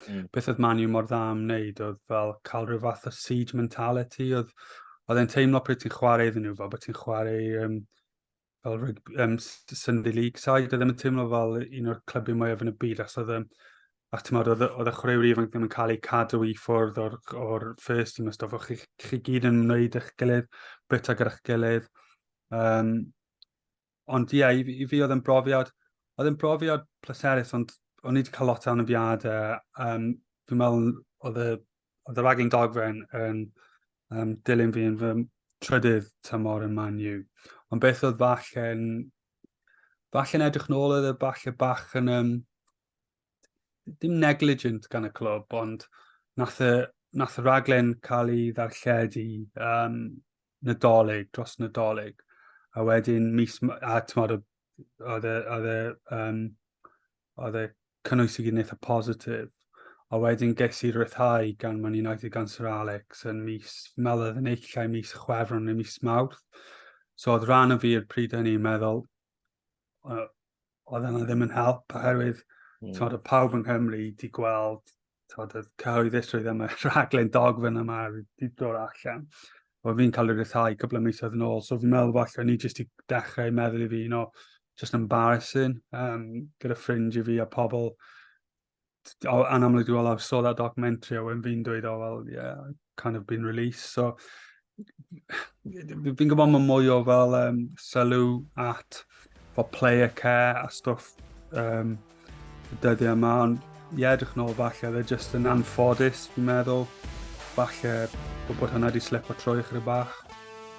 Mm. Beth oedd Man U mor dda am wneud oedd fel cael rhyw fath o siege mentality, oedd, oedd e'n teimlo pryd ti'n chwarae iddyn nhw, fel bod ti'n chwarae um, fel rygbi, um, Sunday League side, oedd e'n teimlo fel un o'r clybiau mwyaf yn y byd, achos oedd e'n a ti'n meddwl, oedd y chwaraewr ifanc ddim yn cael ei cadw i ffwrdd o'r, or first team a stuff, chi, chi gyd yn wneud eich gilydd, bita gyda'ch gilydd. Um, ond ie, yeah, i, i fi oedd yn brofiad, oedd yn brofiad pleserus, ond o'n i wedi cael lot o anafiadau. Um, fi'n meddwl oedd y, oedd y raging dogfen yn um, dilyn fi yn fy trydydd tymor yn Man U. Ond beth oedd falle'n... Falle'n edrych nôl oedd y falle bach yn... Um, dim negligent gan y clwb, ond nath y, nath y raglen cael ei ddarlledu um, nadolig, dros nadolig. A wedyn mis, a tymod, oedd y, oedd y, um, oedd y cynnwys i gyd yn eitha positif. A wedyn ges i rythau gan Man United gan Sir Alex yn mis, meddwl oedd yn eich llai mis chwefron neu mis mawrth. So oedd rhan o fi i'r pryd hynny yn meddwl, oedd yna ddim yn help, oherwydd mm. tod, y pawb yng Nghymru wedi gweld tod, y cyhoeddusrwydd am y rhaglen dogfen yma wedi dod allan. O fi'n cael ei rythau cwbl o misoedd yn ôl, so fi'n meddwl falle ni jyst i dechrau meddwl i fi, you know, just embarrassing um, gyda ffrind i fi a pobl oh, and I'm like, well, I saw that documentary, a wedyn fi'n dweud, oh, well, yeah, I've kind of been released. So, fi'n gwybod mae mwy o fel um, sylw at for player care a stuff um, y dyddiau yma, ond ie, yeah, edrych nôl falle, they're just yn anffodus, fi'n meddwl. Falle bod hwnna wedi slip o trwy chyda bach.